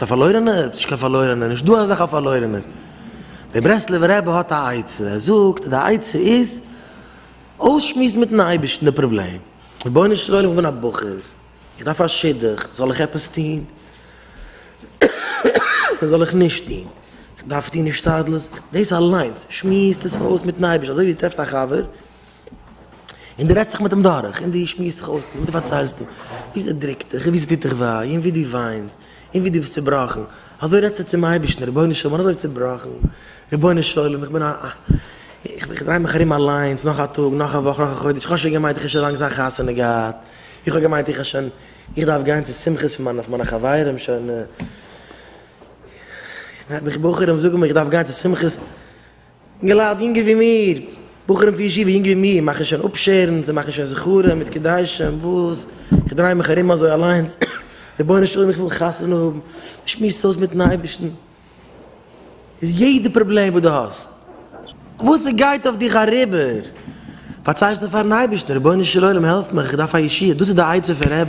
די פארלוירענע? ס'נישט קיין פארלוירענע, נישט דא אזעלכע פארלוירענע. דער ברסלב'ער רבי האט א עצה, ער זאגט די עצה איז, אויסשמועסן מיטן אייבערשטן די פראבלעם, רבונו של עולם איך בין א בחור, איך דארף א שידוך, זאל איך עפעס טון? זאל איך נישט טון? איך דארף טון השתדלות? דאס אליינס, שמועס דאס אויס מיטן אייבערשטן, אזוי ווי טרעפסט א חבר, און דו רעדסט דיך מיט אים דורך, און דו שמועסט דיך אויס, און דו פארציילסט אים ווי סע דריקט דיך, און ווי סע טוט דיך וויי, און ווי דו וויינסט, און ווי דו ביסט צובראכן, אזוי רעדסטו צום אייבערשטן, רבונו של עולם איך בין אזוי צובראכן, רבונו של עולם איך בין א א, איך דריי מיך ארום אליינס, נאך א טאג, נאך א וואך, נאך א חודש, איך האב שוין געמיינט איך האב שוין לאנג זיין חתונה געהאט, איך האב געמיינט איך האב שוין, איך דארף גיין צו שמחות פון מיינע מיינע חברים שוין, איך דארף גיין צו שמחות. אינגעלייט יונגער ווי מיר, בחורים פון ישיבה יונגער ווי מיר, מאכן שוין אפשערן, זיי מאכן שוין זכרים מיט קדשים, וואס? איך דריי מיך ארום אזוי אליינס, רבונו של עולם איך וויל חתונה האבן, איך שמועס אויס מיטן אייבערשטן, איז יעדע פראבלעם וואס דו האסט, וואס ס'גייט אויף דיך אריבער, פארצייגסטו פארן אייבערשטן, רבונו של עולם העלף מיך, איך דארף א ישועה, דאס איז די עצה פון ר'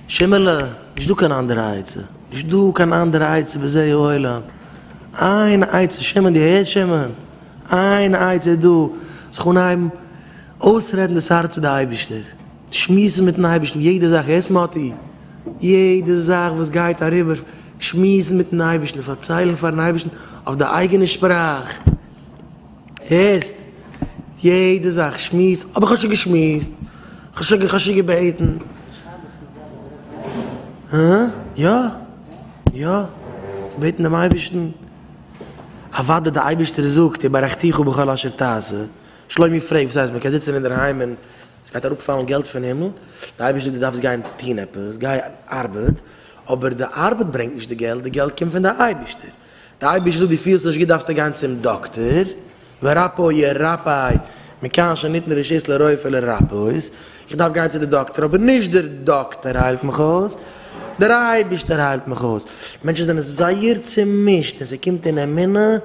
שימעלע, נישטא קיין אנדערע עצה, נישטא קיין אנדערע עצה בזה העולם. איין עצה שמעון דו הערסט שמעון? איין עצה איז דא זיך אנהייבן אויסרעדן דאס הארץ צו די אייבערשטער, שמועסן מיטן אייבערשטן יעדע זאך, הערסט מאטי? יעדע זאך וואס גייט אריבער שמועסן מיטן אייבערשטן, פארציילן פארן אייבערשטן אויף די אייגענע שפראך. הערסט? יעדע זאך שמועס האב איך שוין געשמועסט, כ'האב שוין געבעטן. הא? יא. יא. געבעטן דעם אייבערשטן. אוודאי דער אייבערשטער זאגט און ברכתיך בכל אשר תעשה. שלומי פרעגט וואס הייסט מ'קען זיצן אינדערהיים און ס'גייט אראפפאלן געלט פון הימל? דער אייבערשטער זאגט דו דארפסט גיין טון עפעס, גיי ארבעט. אבער די ארבעט ברענגט נישט די געלט, די געלט קומט פון די אייבערשטער. די אייבערשטער זאגט דו פילסט נישט גוט דארפסטו גיין צום דאקטער, ורפא ירפאי מכאן שניתנה רשות לרופא לרפאות, איך דארף גיין צו די דאקטער אבער נישט דער דאקטער היילט מיך אויס, דער אייבערשטער היילט מיך אויס, מענטשן זענען זייער צומישט און ס'קומט אין אמונה,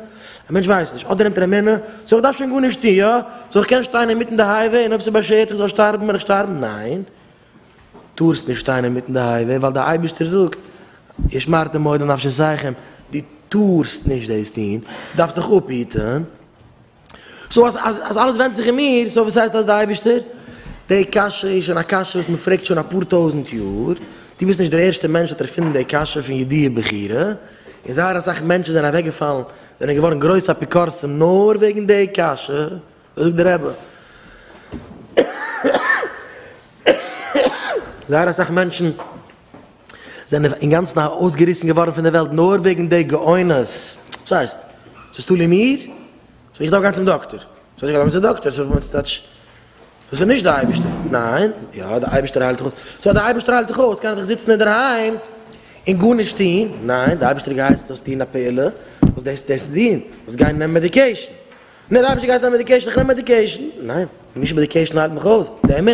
א מענטש ווייסט נישט, אדער נעמט ער אמונה, סאו איך דארף שוין גארנישט טון, יא? סאו איך קען שטיין אינמיטן די הייוועי און אויב ס'באשערט איך זאל שטארבן וועל איך שטארבן, ניין! טארסט נישט שטיין אינמיטן די הייוועי ווייל דער אייבערשטער זאגט ושמרתם מאוד לנפשותיכם, דו טארסט נישט דאס טון, דארפסט דיך אפהיטן, סאו אז אז אלעס ווענדט זיך אין מיר, סאו וואס הייסט אז דער אייבערשטער? די קשיא איז שוין א קשיא וואס מען פרעגט שוין אפאר טויזנט יאר, דו ביסט נישט דער ערשטער מענטש וואס האט ערפינדן די קשיא פון ידיעה בחירה, און זייער אסאך מענטשן זענען אוועקגעפאלן, זענען געווארן גרויסע אפיקורסים נאר וועגן די קשיא. זאגט דער רבי, זייער אסאך מענטשן זענען אינגאנצן ארויסגעריסן געווארן פון דער וועלט נאר וועגן די גאונות, וואס הייסט? ס'איז תלוי מיר? סאו איך דארף גיין צום דאקטער? סאו איך דארף גיין צום דאקטער? סאו וואס טייטש? דאס איז נישט דער אייבערשטער? ניין? יא, דער אייבערשטער היילט דיך אויס. סאו אז דער אייבערשטער היילט דיך אויס, קען איך דאך זיצן אינדערהיים און גארנישט טון? ניין, דער אייבערשטער האט געהייסט זאלסט טון א פעולה, זאלסט דאס און דאס טון, זאלסט גיין נעמען מעדיקעישן. נער רבי שגייסט נעמען מעדיקעישן, איך נעם מעדיקעישן, ניין, נישט מעדיקעישן היילט מיך אויס, די אמונה,